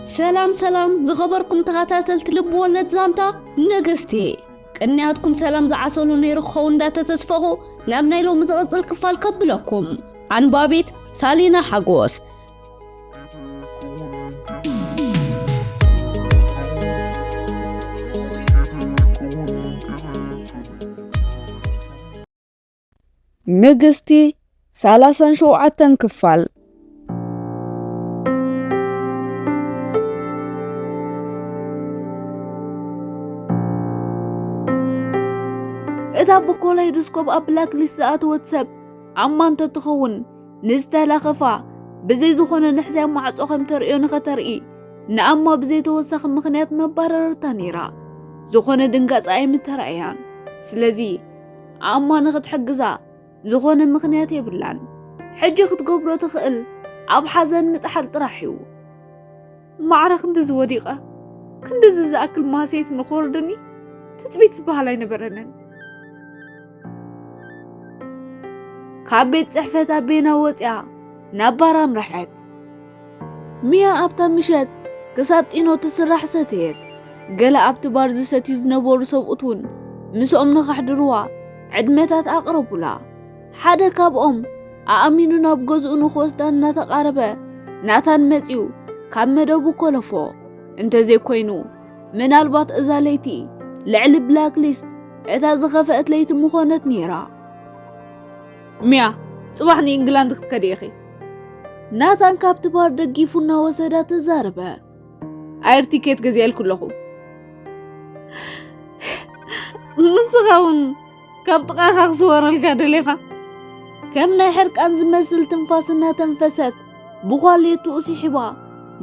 ሰላም ሰላም ዝኸበርኩም ተኸታተልቲ ልቢ ወለድ ዛንታ ነገስቲ ቅንያትኩም ሰላም ዝዓሰሉ ነይሩ ክኸው እንዳተተስፈኹ ናብ ናይ ሎሚ ዝቕፅል ክፋል ከብለኩም ኣንባቢት ሳሊና ሓጎስ ንግስቲ ሰላሳን ሸውዓተን ክፋል። እታ ብኮላይዶስኮፕ ኣብ ብላክ ሊስት ዝኣተወት ሰብ ዓማ እንተትኸውን ንዝተላኸፋ ብዘይ ዝኾነ ንሕዝያ ማዕጾ ከም ተርእዮ ንኸተርኢ ንኣማ ብዘይ ተወሳኺ ምኽንያት መባረረታ ነይራ። ዝኾነ ድንጋጸ ኣይምተራእያን። ስለዚ ኣሞ ንኽትሕግዛ ዝኾነ ምኽንያት የብላን። ሕጂ ክትገብሮ ትኽእል ኣብ ሓዘን ምጥሓል ጥራሕ እዩ። ማዕረ ክንድዚ ወዲቐ ክንድዚ ዝኣክል ማህሰይቲ ንኽወርደኒ ትጽቢት ዝበሃል ኣይነበረንን። ካብ ቤት ጽሕፈት ኣቤና ወጽያ ናብ ባር ኣምረሐት። ሚያ ኣብታ ምሸት ክሳብ ጢኖ ትስራሕ ሰተየት። ገለ ኣብቲ ባር ዝሰትዩ ዝነበሩ ሰብኡት እውን ምስኦም ንኸሕድርዋ ዕድመታት ኣቕረቡላ። ሓደ ካብኦም ኣእሚኑ ናብ ገዝኡ ንክወስዳ እናተቓረበ ናታን መጺኡ ካብ መደቡ ኮለፎ። እንተዘይኮይኑ ምናልባት እዛ ለይቲ ልዕሊ ብላክ ሊስት እታ ዝኸፈአት ለይቲ ምኾነት ነይራ። ሚያ ጽባሕ ንኢንግላንድ ክትከዲ ኢኺ። ናታን ካብቲ ባር ደጊፉ እናወሰዳ ተዛረበ። ኣየር ቲኬት ገዚኣልኩ ኣለኹ። ንስኻ እውን ካብ ጥቓኻ ክስወረልካ ደሊኻ ከም ናይ ሕርቃን ዝመስል ትንፋስ እናተንፈሰት ብኳሌትኡ ስሒባ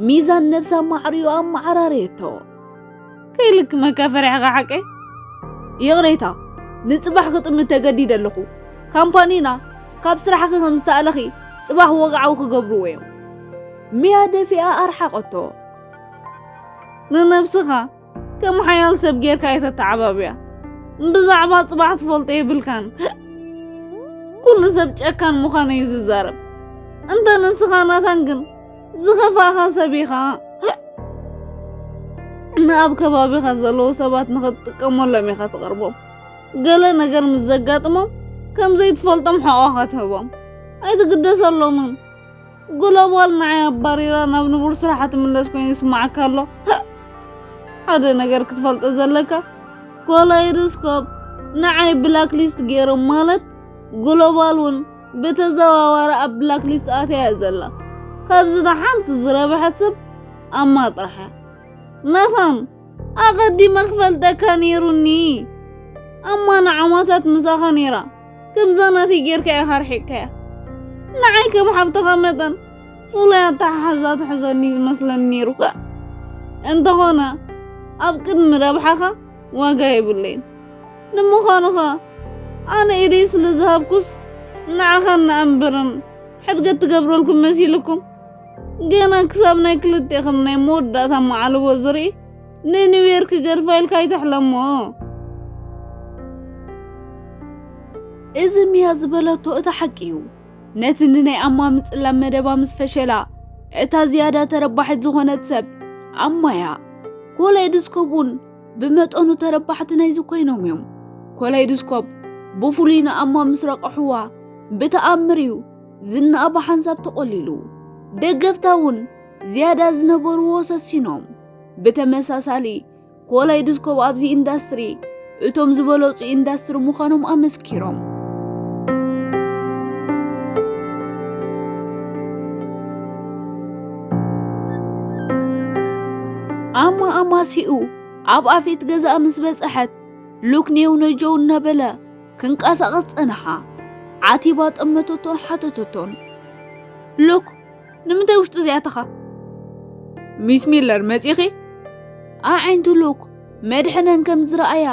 ሚዛን ነብሳ ማዕሪኡ ኣመዓራረየቶ። ከይልክ መካፈርያኻ ሓቂ ይቕሬታ ንጽባሕ ክጥምት ተገዲደ ኣለኹ ካምፓኒና ካብ ስራሕኺ ከም ዝተኣለኺ ጽባሕ ወግዓዊ ክገብርዎ እዮም ሚያ ደፊኣ ኣርሓቐቶ ንነብስኻ ከም ሓያል ሰብ ጌርካ የተተዓባብያ ብዛዕባ ጽባሕ ትፈልጦ የብልካን ኩሉ ሰብ ጨካን ምዃኑ እዩ ዝዛረብ እንተ ንስኻ ናታን ግን ዝኸፋኻ ሰብ ኢኻ ንኣብ ከባቢኻ ዘለዉ ሰባት ንኽትጥቀመሎም ኢኻ ትቐርቦም ገለ ነገር ምስ ዘጋጥሞም ከም ዘይትፈልጦም ሕቖኻ ትህቦም ኣይትግደሰሎምን ግሎባል ንዓይ ኣባሪራ ናብ ንቡር ስራሓ ትምለስ ኮይኑ ይስማዓካ ኣሎ ሓደ ነገር ክትፈልጦ ዘለካ ኮላይዶስኮፕ ንዓይ ብላክ ሊስት ገይሮም ማለት ግሎባል እውን ብተዘዋዋሪ ኣብ ብላክ ሊስት ኣትያ እያ ዘላ ካብዚ ንሓንቲ ዝረብሐት ሰብ ኣማ ጥራሕ እያ መኸም ኣቐዲመ ክፈልጠካ ነይሩኒ ኣማ ንዓማታት ምሳኻ ነይራ ከምዛ ናተይ ጌርካ ኢኻ ኣርሒቕካያ ንዓይ ከም ሓብትኻ መጠን ፍሉይ ኣተሓሕዛ ትሕዘኒ ዝመስለኒ ነይሩካ እንተኾነ ኣብ ቅድሚ ረብሓኻ ዋጋ የብለይን ንምዃኑኸ ኣነ ኢደይ ስለ ዝሃብኩስ ንዓኻ እንኣንብርን ሕድገት ትገብረልኩም መሲልኩም? ገና ክሳብ ናይ ክልቴኽም ናይ መወዳእታ መዓልቦ ዝርኢ ንኒውየር ክገድፋ ኢልካ ኣይትሕለሞ። እዚ ሚያ ዝበለቶ እቲ ሓቂ እዩ። ነቲ ንናይ ኣማ ምጽላም መደባ ምስ ፈሸላ እታ ዝያዳ ተረባሒት ዝኾነት ሰብ ኣማያ ኮላይ ድስኮቡን ብመጠኑ ተረባሕቲ ናይዚ ኮይኖም እዮም። ኮላይድስኮፕ ብፍሉይ ንኣማ ምስ ረቐሕዋ ብተኣምር እዩ ዝናኣ ብሓንሳብ ተቖሊሉ። ደገፍታ እውን ዝያዳ ዝነበርዎ ሰሲኖም። ብተመሳሳሊ ኮላይድስኮፕ ኣብዚ ኢንዳስትሪ እቶም ዝበለጹ ኢንዳስትሪ ምዃኖም ኣመስኪሮም። ኣማ ኣማሲኡ ኣብ ኣፌት ገዛኣ ምስ በጽሐት ሉክኔው ነጀው እናበለ ክንቀሳቐስ ጸንሓ። ዓቲባ ጠመተቶን ሓተተቶን። ሉክ ንምንታይ ውሽጢ እዚኣተኻ? ሚስ ሚለር መጺኺ? ኣዒንቲ ሉክ መድሕነን ከም ዝረኣያ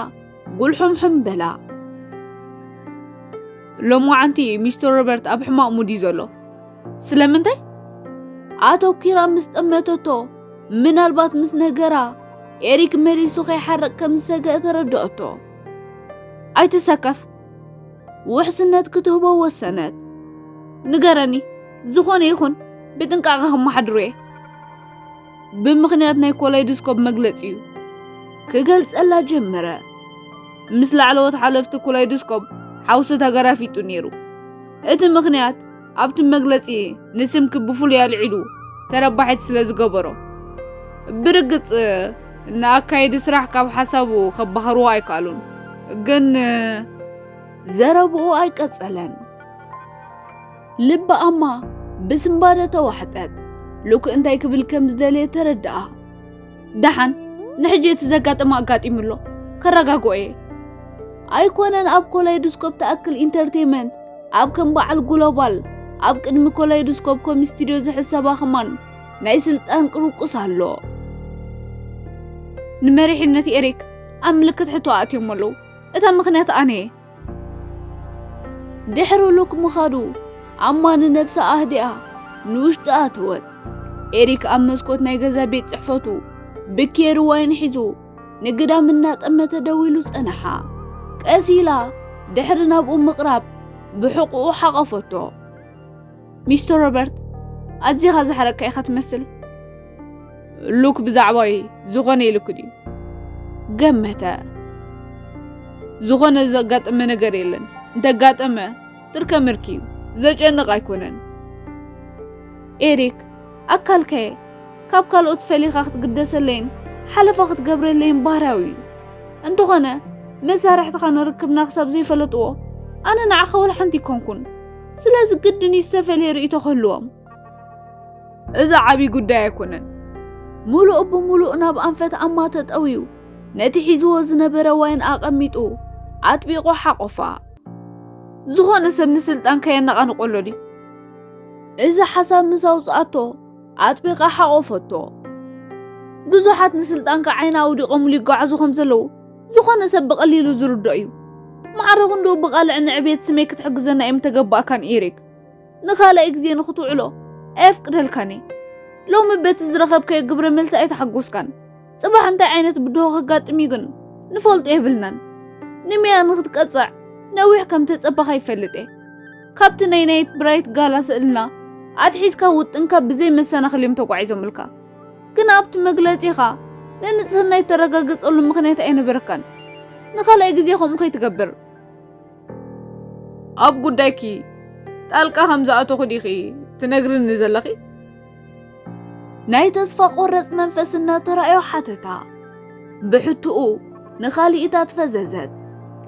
ጉልሑምሑም በላ። ሎምዓንቲ ሚስተር ሮበርት ኣብ ሕማቕ ሙድ እዩ ዘሎ ስለምንታይ ኣተኲራ ምስ ጠመተቶ ምናልባት ምስ ነገራ ኤሪክ መሊሱ ከይሓርቕ ከም ዝሰግአ ተረድኦቶ ኣይትሰከፍ ውሕስነት ክትህቦ ወሰነት ንገረኒ ዝኾነ ይኹን ብጥንቃቐ ከመሓድሮ እየ ብምኽንያት ናይ ኮላይድስኮፕ መግለጺኡ ክገልጸላ ጀመረ። ምስ ላዕለዎት ሓለፍቲ ኮላይድስኮፕ ሓውሲ ተገራፊጡ ነይሩ። እቲ ምኽንያት ኣብቲ መግለጺ ንስምኪ ብፍሉይ ኣልዒሉ ተረባሒት ስለ ዝገበሮ ብርግጽ ንኣካየዲ ስራሕ ካብ ሓሳቡ ከባህርዎ ኣይከኣሉን ግን ዘረብኡ ኣይቀጸለን። ልቢ ኣማ ብዝምባረ ተዋሕጠት። ሉክ እንታይ ክብል ከም ዝደለየ ተረድኣ። ደሓን ንሕጂ እቲ ዘጋጠመ ኣጋጢሙ ኣሎ ከረጋግኦ እየ ኣይኮነን ኣብ ኮላይዶስኮፕ ትኣክል ኢንተርቴንመንት ኣብ ከም በዓል ግሎባል ኣብ ቅድሚ ኮላይዶስኮፕ ኮም ስቱድዮ ዝሕሰባ ኸማን ናይ ስልጣን ቅርቁስ ኣሎ ንመሪሕነት ኤሪክ ኣብ ምልክት ሕቶ ኣእትዮሞ ኣለዉ እታ ምኽንያት ኣነ እየ ድሕሪ ሉክ ምኻዱ ኣማኒ ነብሳ ኣህዲኣ ንውሽጢ ኣተወት። ኤሪክ ኣብ መስኮት ናይ ገዛ ቤት ጽሕፈቱ ብኬሪ ዋይን ሒዙ ንግዳም እናጠመተ ደው ኢሉ ጸንሓ። ቀስ ኢላ ድሕሪ ናብኡ ምቕራብ ብሕቑኡ ሓቐፈቶ። ሚስተር ሮበርት ኣዚኻ ዝሕረካ ኢኻ ትመስል። ሉክ ብዛዕባይ ዝኾነ ኢሉክ ድዩ? ገመተ። ዝኾነ ዘጋጠመ ነገር የለን። እንተጋጠመ ትርከ ምርክ እዩ፣ ዘጨንቕ ኣይኮነን። ኤሪክ ኣካልከየ ካብ ካልኦት ፈሊኻ ክትግደሰለይን ሓለፋ ክትገብረለይን ባህርያዊ እዩ። እንተኾነ መሳርሕትኻ ንርክብና ክሳብ ዘይፈለጥዎ ኣነ ንዓኻ ወላ ሓንቲ ይኮንኩን። ስለዚ ግድን እዩ ዝተፈልየ ርእይቶ ክህልዎም። እዚ ዓብይ ጉዳይ ኣይኮነን። ምሉእ ብምሉእ ናብ ኣንፈት ኣማ ተጠውዩ ነቲ ሒዝዎ ዝነበረ ዋይን ኣቐሚጡ ኣጥቢቑ ሓቖፋ። ዝኾነ ሰብ ንስልጣን ከየነቓንቖሎ ድዩ? እዚ ሓሳብ ምስ ኣውጽኣቶ ኣጥቢቓ ሓቖፈቶ። ብዙሓት ንስልጣንካ ዓይና ኣውዲቖምሉ ይጓዓዙ ከም ዘለዉ ዝኾነ ሰብ ብቐሊሉ ዝርድኦ እዩ። ማዕረ ክንድኡ ብቓልዕ ንዕብየት ስመይ ክትሕግዘና እየ ምተገባእካን ኢሪክ። ንኻልኣይ ግዜ ንኽትውዕሎ ኣየፍቅደልካን እየ። ሎሚ በቲ ዝረኸብካዮ ግብረ መልሲ ኣይተሓጎስካን። ጽባሕ እንታይ ዓይነት ብድሆ ከጋጥም እዩ ግን ንፈልጦ የብልናን። ንሜያ ንኽትቀጽዕ ነዊሕ ከም ተጸበኻ ይፈልጥ እየ። ካብቲ ናይ ናይት ብራይት ጋላ ስእልና ኣትሒዝካ ውጥንካ ብዘይ መሰናኽል እዮም ተጓዒዞምልካ። ግን ኣብቲ መግለጺኻ ንንጽህና የተረጋገጸሉ ምኽንያት ኣይነበረካን። ንኻልኣይ ግዜ ከምኡ ከይትገብር። ኣብ ጉዳይኪ ጣልቃ ከም ዝኣተኹ ዲኺ ትነግርኒ ዘለኺ? ናይ ተስፋ ቆረጽ መንፈስ እናተራእዮ ሓተታ። ብሕትኡ ንኻልኢታት ፈዘዘት።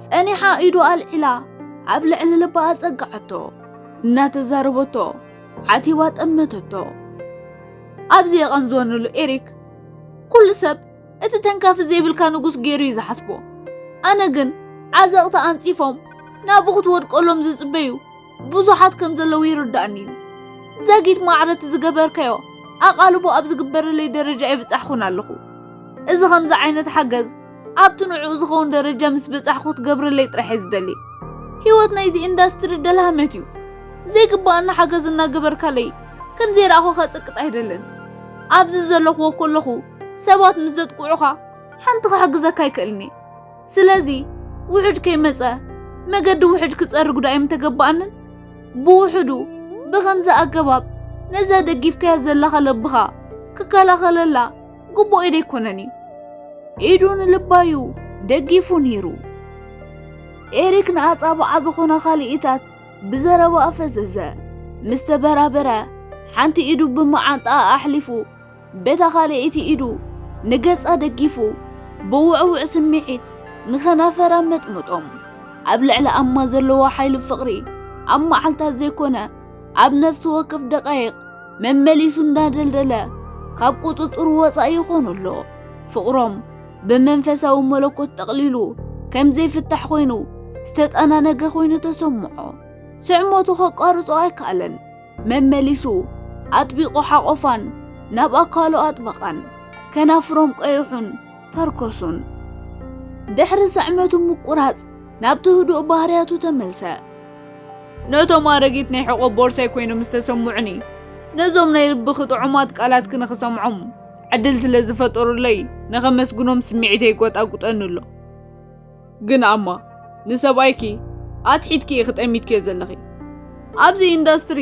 ጸኒሓ ኢዱ ኣልዒላ ኣብ ልዕሊ ልባ ኣጸግዓቶ እናተዛረበቶ ዓቲባ ጠመተቶ። ኣብዚ የቐንዞንሉ ኤሪክ ኩሉ ሰብ እቲ ተንካፊ ዘይብልካ ንጉስ ገይሩ እዩ ዝሓስቦ ኣነ ግን ዓዘቕቲ ኣንጺፎም ናብኡ ክትወድቀሎም ዝጽበዩ ብዙሓት ከም ዘለዉ ይርዳእኒ እዩ ዘጊት ማዕረት ዝገበርካዮ ኣቓልቦ ኣብ ዝግበረለይ ደረጃ የብጻሕኹን ኣለኹ እዚ ከምዚ ዓይነት ሓገዝ ኣብቲ ንዕኡ ዝኸውን ደረጃ ምስ በጻሕኩ ክትገብረለይ ጥራሕ እየ ዝደሊ። ህይወት ናይዚ ኢንዳስትሪ ደልሃመት እዩ። ዘይግባኣኒ ሓገዝ እናገበርካለይ ከም ዘይረኣኹ ከጽቅጥ ኣይደልን። ኣብዚ ዘለኹዎ ከለኹ ሰባት ምስ ዘጥቅዑኻ ሓንቲ ክሕግዘካ ኣይክእልን እየ። ስለዚ ውሕጅ ከይመጸ መገዲ ውሕጅ ክጸርግ ዶ ኣይምተገባኣንን? ብውሕዱ ብኸምዚ ኣገባብ ነዛ ደጊፍካያ ዘለኻ ለብኻ ክከላኸለላ ግቡእ ኢድ ኣይኮነን እዩ ኢዱ ንልባዩ ደጊፉ ነይሩ ኤሪክ ንኣጻብዓ ዝኾነ ካልኢታት ብዘረባ ኣፈዘዘ ምስ ተበራበረ ሓንቲ ኢዱ ብመዓንጣኣ ኣሕሊፉ በታ ካልኣይቲ ኢዱ ንገጻ ደጊፉ ብውዕውዕ ስምዒት ንኸናፈራ መጥምጦም ኣብ ልዕሊ ኣማ ዘለዎ ሓይሊ ፍቕሪ ኣብ መዓልታት ዘይኮነ ኣብ ነፍሲ ወከፍ ደቃይቕ መመሊሱ እንዳደልደለ ካብ ቁጽጽሩ ወጻኢ ይኾኑ ኣሎ። ፍቕሮም ብመንፈሳዊ መለኮት ጠቕሊሉ ከም ዘይፍታሕ ኮይኑ ዝተጠናነገ ኮይኑ ተሰምዖ። ስዕሞቱ ከቋርጾ ኣይከኣለን። መመሊሱ ኣጥቢቑ ሓቆፋን ናብ ኣካሉ ኣጥበቓን። ከናፍሮም ቀይሑን ተርኮሱን። ድሕሪ ስዕመቱ ምቁራጽ ናብቲ ህዱእ ባህርያቱ ተመልሰ። ነቶም ኣረጊት ናይ ሕቆ ቦርሳይ ኮይኖም ዝተሰምዑኒ ነዞም ናይ ልብኺ ጥዑማት ቃላትኪ ንኽሰምዖም ዕድል ስለ ዝፈጠሩለይ ንኸመስግኖም ስምዒተይ ይጎጣጉጠኒ ኣሎ ግን ኣማ ንሰብኣይኪ ኣትሒትኪ ኢኺ ጠሚትኪዮ ዘለኺ ኣብዚ ኢንዳስትሪ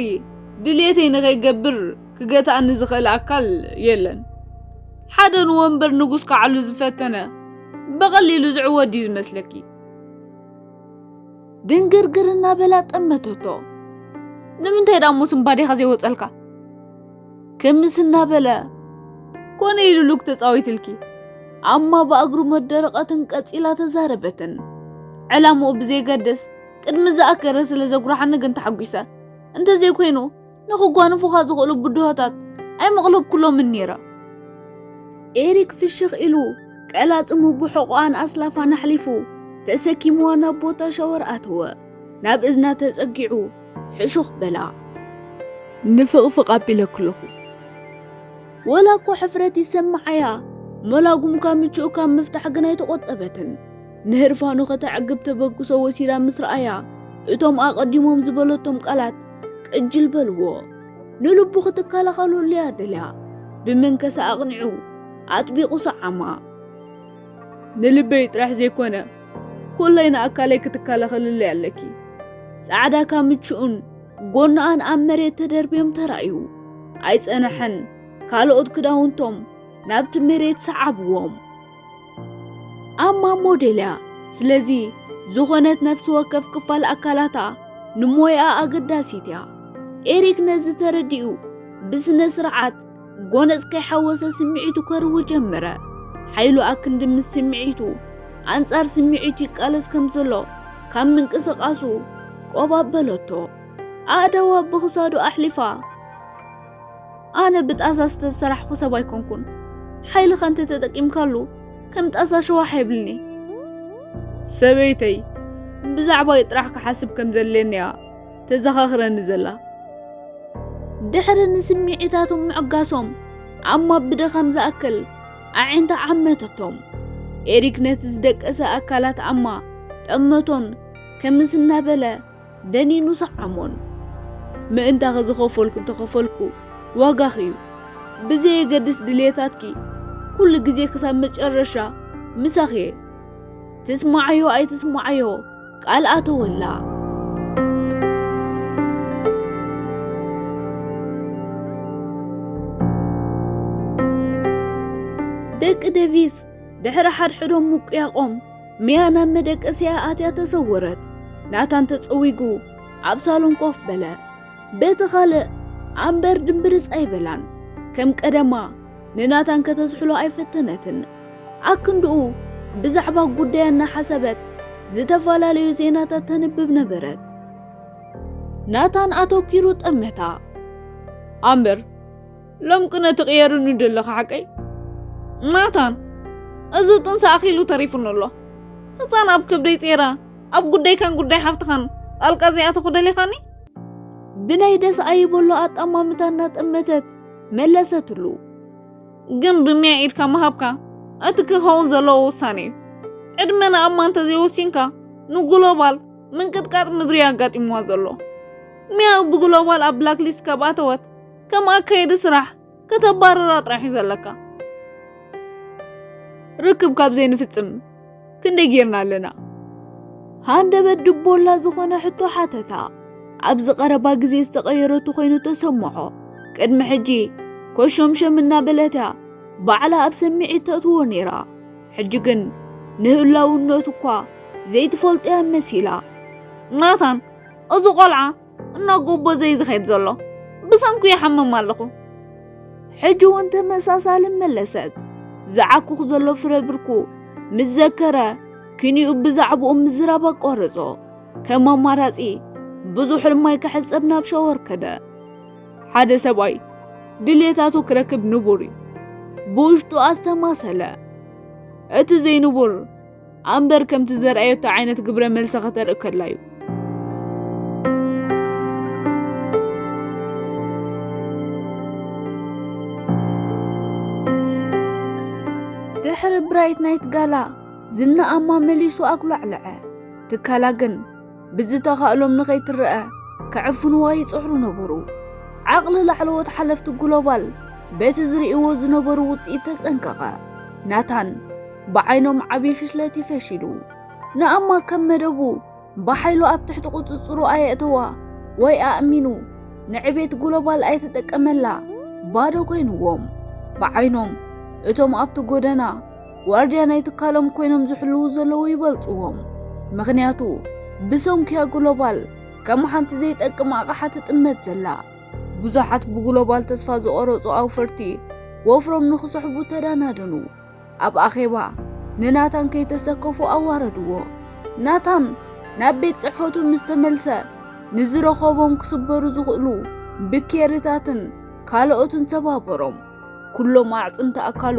ድልየተይ ንኸይገብር ክገትኣኒ ዝኽእል ኣካል የለን ሓደ ንወንበር ንጉስ ካዕሉ ዝፈተነ ብቐሊሉ ዝዕወድ እዩ ዝመስለኪ ድንግርግር እናበላ ጠመተቶ ንምንታይ ዳሞ ስምባዴኻ ዘይወፀልካ ክምስ እናበለ ኮነ ኢሉ ሉክ ተፃዊትልኪ ኣማ ብኣግሩ መደረቐትን ቀፂላ ተዛረበትን ዕላምኡ ብዘይገድስ ቅድሚ ዝኣከረ ስለ ዘጉራሓኒ ግን ተሓጒሰ እንተዘይኮይኑ ንክጓንፉኻ ዝኽእሉ ብድሆታት ኣይመቕለብኩሎምን ነይረ። ኤሪክ ፍሽኽ ኢሉ ቀላጽሙ ብሕቖኣን ኣስላፋን ኣሕሊፉ ተሰኪምዋ ናብ ቦታ ሻወር ኣተወ። ናብ እዝና ተጸጊዑ ሕሹኽ በላ። ንፍቕፍቕ ኣቢለኪ ኣለኹ። ወላ እኮ ሕፍረት ይሰምዓያ መላጉምካ ምቹእ ካብ ምፍታሕ ግን ኣይተቖጠበትን። ንህርፋኑ ከተዕግብ ተበግሶ ወሲዳ ምስ ረኣያ እቶም ኣቐዲሞም ዝበለቶም ቃላት ቅጅል በልዎ። ንልቡ ክትከላኸለሉ እያ ደልያ። ብመንከሳ ኣቕኒዑ ኣጥቢቑ ሰዓማ። ንልበይ ጥራሕ ዘይኮነ ኩለይ ንኣካለይ ክትከላኸልለይ ኣለኪ። ጻዕዳ ካምችኡን ጎናኣን ኣብ መሬት ተደርብዮም ተራእዩ። ኣይጸነሐን ካልኦት ክዳውንቶም ናብቲ መሬት ሰዓብዎም። ኣብ ማሞ ዴልያ ስለዚ ዝኾነት ነፍሲ ወከፍ ክፋል ኣካላታ ንሞያኣ ኣገዳሲት እያ። ኤሪክ ነዚ ተረዲኡ ብስነ ስርዓት ጎነጽ ከይሓወሰ ስምዒቱ ከርዊ ጀመረ። ሓይሉ ኣክንዲ ምስ ስምዒቱ ኣንጻር ስምዒቱ ይቃለስ ከም ዘሎ ካብ ምንቅስቓሱ ቆባበለቶ። ኣእዳዋ ብኽሳዱ ኣሕሊፋ ኣነ ብጣሳ ዝተሰራሕኹ ሰብ ኣይኮንኩን ሓይልኻ እንተ ተጠቂምካሉ ከም ጣሳ ሸዋሕ የብልኒ ሰበይተይ ብዛዕባይ ጥራሕ ክሓስብ ከም ዘለኒያ ተዘኻኽረኒ ዘላ ድሕሪ ንስምዒታቶም ምዕጋሶም ዓማ ብድኻም ዝኣክል ኣዒንታ ዓመተቶም ኤሪክ ነቲ ዝደቀሰ ኣካላት ኣማ ጠመቶን ከምስ እናበለ ደኒኑ ሰዓሞን ምእንታኺ ዝኸፈልኩ እንተኸፈልኩ ዋጋኺ እዩ ብዘየገድስ ድልየታትኪ ኩሉ ግዜ ክሳብ መጨረሻ ምሳኺ እየ ትስማዓዮ ኣይትስማዓዮ ቃል ኣተወላ ደቂ ደቪስ ድሕሪ ሓድሕዶም ምቁያቆም ሚያ ናብ መደቀስያ ኣትያ ተሰወረት። ናታን ተጸዊጉ ኣብ ሳሎን ኮፍ በለ። በቲ ኻልእ ኣምበር ድምብርጽ ኣይበላን። ከም ቀደማ ንናታን ከተዝሕሎ ኣይፈተነትን። ኣክንድኡ ብዛዕባ ጉዳያ እናሓሰበት ዝተፈላለዩ ዜናታት ተንብብ ነበረት። ናታን ኣተኪሩ ጠመታ። ኣምበር ሎም ቅነ ትቕየርኒ ደለኻ ሓቀይ ናታን እዚ ጥንሲ ኣኺሉ ተሪፉኒ ኣሎ ህፃን ኣብ ከብደይ ጼራ ኣብ ጉዳይካን ጉዳይ ሓፍትኻን ጣልቃ ዘይኣተኹ ደሊኻኒ ብናይ ደስ ኣይበሎ ኣጠማምታ እናጠመተት መለሰትሉ ግን ብሚያ ኢድካ ምሃብካ እቲ ክኸውን ዘለዎ ውሳነ እዩ ዕድመ ንኣማ እንተዘይወሲንካ ንግሎባል ምንቅጥቃጥ ምድሪ ኣጋጢምዋ ዘሎ ሚያ ብግሎባል ኣብ ብላክሊስት ካብ ኣተወት ከም ኣካየዲ ስራሕ ከተባርራ ጥራሕ እዩ ዘለካ ርክብ ካብ ዘይንፍጽም ክንደይ ጌርና ኣለና ሃንደበት ድቦላ ዝኾነ ሕቶ ሓተታ ኣብዚ ቀረባ ግዜ ዝተቐየረቱ ኮይኑ ተሰምዖ ቅድሚ ሕጂ ኮሾምሸም እናበለት እያ ባዕላ ኣብ ሰሚዒት ተእትዎ ነይራ ሕጂ ግን ንህላውነቱ እኳ ዘይትፈልጦ እያ መሲላ ናታን እዚ ቆልዓ እና ጎቦ ዘይዝኸድ ዘሎ ብሰንኩ ይሓምም ኣለኹ ሕጂ እውን ተመሳሳሊ መለሰት ዝዓኩኽ ዘሎ ፍረ ብርኩ ምስ ዘከረ ክንኡ ብዛዕባኡ ምዝራብ ኣቋረጾ ከም ኣማራጺ ብዙሕ ሕልማይ ክሕጸብ ናብ ሻወር ከደ ሓደ ሰብኣይ ድሌታቱ ክረክብ ንቡር እዩ ብውሽጡ ኣስተማሰለ እቲ ዘይንቡር ኣምበር ከምቲ ዘርኣየቶ ዓይነት ግብረ መልሲ ከተርኢ ከላ እዩ። ድሕሪ ብራይት ናይት ጋላ ዝናኣማ መሊሱ ኣጉላዕለዐ። ትካላ ግን ብዝተኻእሎም ንኸይትረኣ ክዕፍንዋ ይጽዕሩ ነበሩ። ዓቕሊ ላዕለዎት ሓለፍቲ ግሎባል በቲ ዝርእይዎ ዝነበሩ ውጽኢት ተጸንቀቐ። ናታን ብዓይኖም ዓብዪ ፍሽለት እዩ ፈሺሉ። ንኣማ ከም መደቡ ብሓይሉ ኣብ ትሕቲ ቁጽጽሩ ኣየእተዋ ወይ ኣእሚኑ ንዕቤት ግሎባል ኣይተጠቀመላ ባዶ ኮይንዎም። ብዓይኖም እቶም ኣብቲ ጎደና ጓርድያ ናይ ትካሎም ኮይኖም ዝሕልዉ ዘለዉ ይበልጽዎም ምኽንያቱ ብሰንኩያ ግሎባል ከም ሓንቲ ዘይጠቅም ኣቕሓ ትጥመት ዘላ ብዙሓት ብግሎባል ተስፋ ዝቖረጹ ኣውፈርቲ ወፍሮም ንኽስሕቡ ተዳናደኑ ኣብ ኣኼባ ንናታን ከይተሰከፉ ኣዋረድዎ ናታን ናብ ቤት ጽሕፈቱ ምስ ተመልሰ ንዝረኸቦም ክስበሩ ዝኽእሉ ብኬርታትን ካልኦትን ሰባበሮም ኵሎም ኣዕጽምቲ ኣካሉ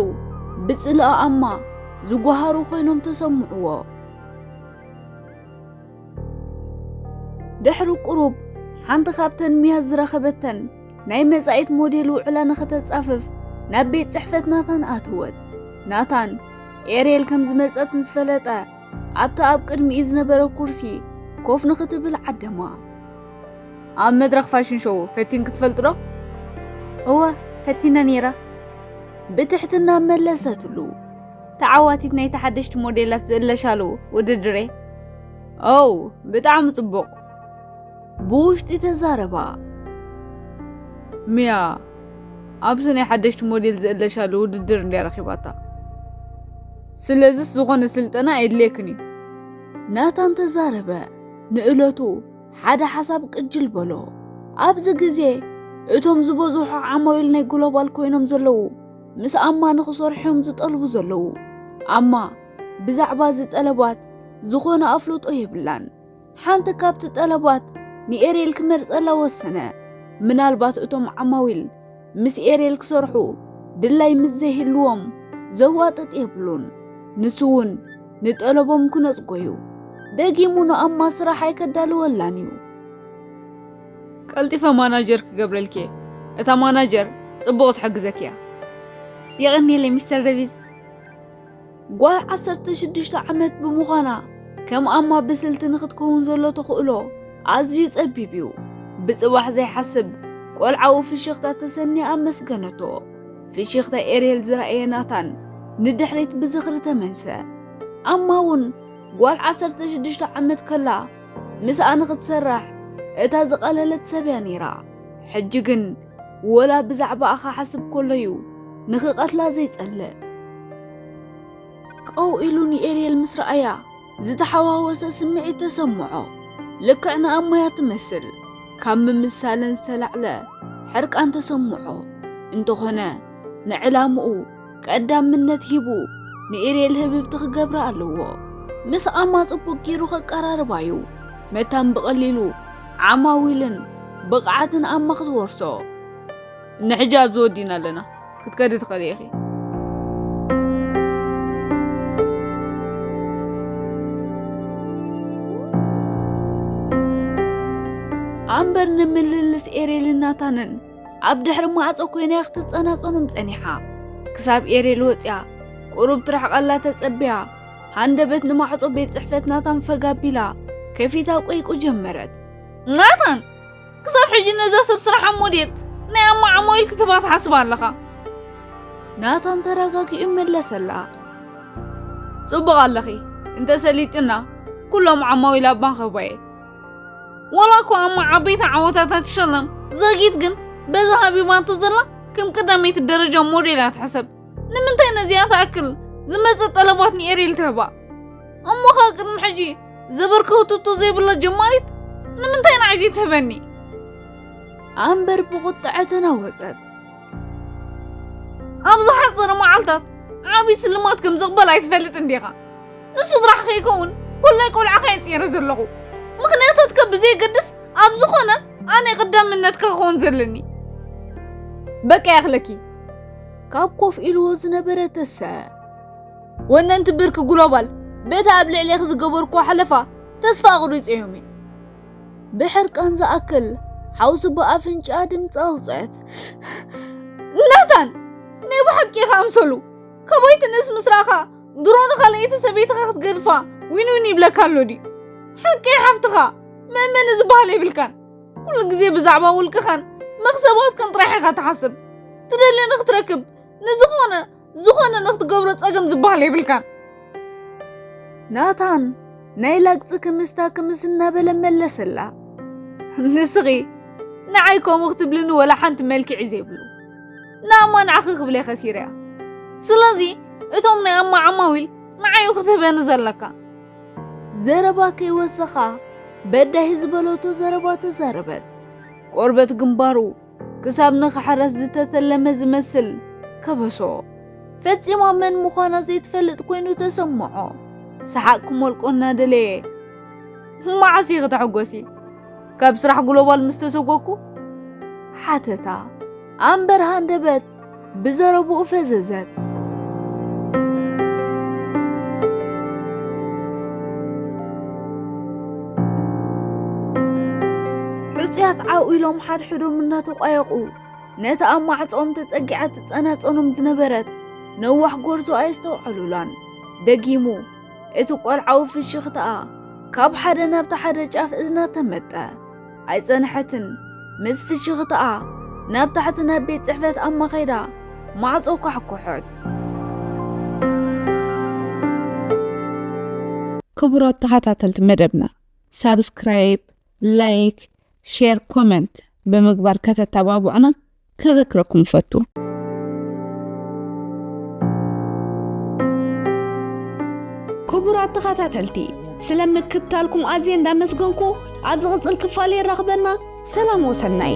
ብጽልኣኣማ ዝጓሃሩ ዀይኖም ተሰምዕዎ። ድሕሪ ቁሩብ ሓንቲ ካብተን ሚያዝ ዝረኸበተን ናይ መጻኢት ሞዴል ውዕላ ንኸተጻፍፍ ናብ ቤት ጽሕፈት ናታን ኣተወት። ናታን ኤርየል ከም ዝመጸት ምስ ፈለጠ ኣብቲ ኣብ ቅድሚኡ ዝነበረ ኩርሲ ኮፍ ንኽትብል ዓደማ። ኣብ መድረኽ ፋሽን ሾው ፈቲን ክትፈልጥ ዶ? እወ ፈቲነ ነይረ። ብትሕትና መለሰትሉ። ተዓዋቲት ናይቲ ሓደሽቲ ሞዴላት ዝእለሻሉ ውድድር እየ። ኦው ብጣዕሚ ጽቡቕ። ብውሽጢ ተዛረባ። ሚያ ኣብዚ ናይ ሓደሽቲ ሞዴል ዝእለሻሉ ውድድር እንድያ ረኺባታ። ስለዝስ ዝኾነ ስልጠና ኣየድልየክን እዩ። ናታን ተዛረበ። ንእለቱ ሓደ ሓሳብ ቅጅል በሎ። ኣብዚ ግዜ እቶም ዝበዝሑ ዓማዊል ናይ ግሎባል ኮይኖም ዘለዉ ምስ ኣማ ንክሰርሑዮም ዝጠልቡ ዘለዉ። ኣማ ብዛዕባ እዚ ጠለባት ዝኾነ ኣፍልጦ የብላን። ሓንቲ ካብቲ ጠለባት ንኤርየል ክመርጸላ ወሰነ። ምናልባት እቶም ዓማዊል ምስ ኤርየል ክሰርሑ ድላይ ምስ ዘይህልዎም ዘዋጥጥ የብሉን። ንሱ እውን ንጠለቦም ክነጽጎ እዩ። ደጊሙ ንኣማ ስራሕ ኣይከዳልወላን እዩ። ቀልጢፈ ማናጀር ክገብረልኪ እየ። እታ ማናጀር ጽቡቕ ትሕግዘኪ እያ። የቐንየለይ ሚስተር ደቪዝ። ጓል ዓሰርተ ሽዱሽተ ዓመት ብምዃና ከም ኣማ ብስልቲ ንኽትከውን ዘሎ ተኽእሎ ኣዝዩ ጸቢብ እዩ። ብጽባሕ ዘይሓስብ ቆልዓዊ ፍሽኽታ ተሰንያ ኣመስገነቶ። ፍሽኽታ ኤርየል ዝረኣየ ናታን ንድሕሪት ብዝኽሪ ተመልሰ። ኣማ እውን ጓል ዓሰርተ ሽዱሽተ ዓመት ከላ ምስኣ ንኽትሰርሕ እታ ዝቐለለት ሰብ እያ ነይራ። ሕጂ ግን ወላ ብዛዕባኣ ክሓስብ ከሎ'ዩ ንኽቐትላ ዘይጸልእ። ቀው ኢሉ ንኤርየል ምስ ረኣያ ዝተሓዋወሰ ስምዒት ተሰምዖ። ልክዕ ንኣሞያ ትመስል። ካብ ምምሳለን ዝተላዕለ ሕርቃን ተሰምዖ። እንተኾነ ንዕላምኡ ቀዳምነት ሂቡ ንኤርየል ህብብቲ ክገብራ ኣለዎ። ምስ ኣማ ጽቡቅ ጊሩ ከቀራርባ እዩ መታን ብቐሊሉ ዓማዊልን ብቕዓትን ኣማ ክትወርሶ። ንሕጂ ኣብዚ ወዲና ኣለና ክትከዲ ትኽእሊ ኢኺ። ኣምበር ንምልልስ ኤርየልን ናታንን ኣብ ድሕሪ ማዕጾ ኮይና ክትጸናጸኖም ጸኒሓ ክሳብ ኤሬል ወጽያ ቁሩብ ትርሕቐላ ተጸቢያ ሃንደበት ንማዕጾ ቤት ጽሕፈት ናታን ፈጋ ኣቢላ ከፊታ ቆይቁ ጀመረት። ናታን ክሳብ ሕጂ ነዛ ሰብ ስራሕ ሞዴል ናይ ኣማዓሞይል ክትባ ትሓስብ ኣለኻ? ናታን ተረጋጊኡ መለሰላ። ጽቡቕ ኣለኺ እንተ ሰሊጥና ኩሎም ዓማዊል ኣብ ማኸባየ ወላ እኳ እሞ ዓበይቲ ዓወታት ኣይትሸለም ዘጊት ግን በዛ ሃቢባቶ ዘላ ከም ቀዳመይቲ ደረጃ ሞዴል እያ ትሕሰብ ንምንታይ ነዚኣ ትኣክል ዝመፅእ ጠለባት ንኤሪል ትህባ እሞ ኸ ቅድሚ ሕጂ ዘበርከውትቶ ዘይብላ ጀማሪት ንምንታይ ንዓይዚ ትህበኒ ኣንበር ብቑጥዐ ተናወፀት ኣብ ዝሓፀረ መዓልታት ዓብዪ ስልማት ከም ዝቕበል ኣይትፈልጥን ዲኻ ንስድራሕ ከይከውን ኩላይ ቆልዓኻ እየ ፅረ ዘለኹ ምክንያታትካ ብዘየገድስ ኣብ ዝኾነ ኣነ ቀዳምነትካ ክኸውን ዘለኒ በቃ ያኽለኪ ካብ ኮፍ ኢልዎ ዝነበረ ተሰ ወነንቲ ብርኪ ግሎባል በቲ ኣብ ልዕሌኺ ዝገበርኩዎ ሓለፋ ተስፋ ኣቑሪፀ እዮም ብሕርቃን ዝኣክል ሓውሲ ብኣፍንጫኣ ድምፂ ኣውፅአት ናታን ናይ ብሓቂ ኢኻ ኣምሰሉ ካባይ ትንእስ ምስ ረኣኻ ድሮ ንኻልኣይቲ ሰበይትኻ ክትገድፋ ዊን ዊን ይብለካ ኣሎ ድዩ ሓቂ ሓፍትኻ መእመኒ ዝበሃል የብልካን ኩሉ ግዜ ብዛዕባ ውልቅኻን መኽሰባትካን ጥራሕ ኢኻ ትሓስብ ትደልዮ ንክትረክብ ንዝኾነ ዝኾነ ንክትገብሮ ጸገም ዝበሃል የብልካን። ናታን ናይ ላግፂ ክምስታ ክምስ እናበለ መለሰላ። ንስኺ ንዓይ ከምኡ ክትብልኒ ወላ ሓንቲ መልክዕ እዩ ዘይብሉ ንኣማ ንዓኺ ክብለ ከሲረ እያ ስለዚ እቶም ናይ ኣማ ዓማዊል ንዓዩ ክትህበኒ ዘለካ ዘረባ ከይወሰኻ በዳሂ ዝበለቶ ዘረባ ተዛረበት። ቆርበት ግንባሩ ክሳብ ንኽሕረስ ዝተተለመ ዝመስል ከበሶ ፈጺማ መን ምዃና ዘይትፈልጥ ኮይኑ ተሰምዖ። ሰሓቅ ክሞልቆ እናደለየ መዓስ ኢኺ ተሐጎሲ ካብ ስራሕ ግሎባል ምስ ተሰጎግኩ ሓተታ ኣንበርሃ ኣንደበት ብዘረብኡ ፈዘዘት። ሕጹያት ዓው ኢሎም ሓድሕዶም እናተቋየቑ ነቲ ኣብ ማዕጾኦም ተጸጊዓ ትጸናጸኖም ዝነበረት ነዋሕ ጎርዞ ኣየስተውዓሉላን። ደጊሙ እቲ ቆልዓዊ ፍሽኽታኣ ካብ ሓደ ናብቲ ሓደ ጫፍ እዝና ተመጠ። ኣይጸንሐትን፣ ምስ ፍሽኽታኣ ናብ ታሕቲ ናብ ቤት ጽሕፈት ኣማ ኸይዳ ማዕጾ ኳሕኩሖት። ክቡራት ተኸታተልቲ መደብና ሳብስክራይብ፣ ላይክ፣ ሼር፣ ኮመንት ብምግባር ከተተባብዑና ከዘክረኩም እፈቱ። ክቡራት ተኸታተልቲ ስለ ምክትታልኩም ኣዝየ እንዳመስገንኩ ኣብ ዝቕፅል ክፋል የራኽበና። ሰላም ወሰናይ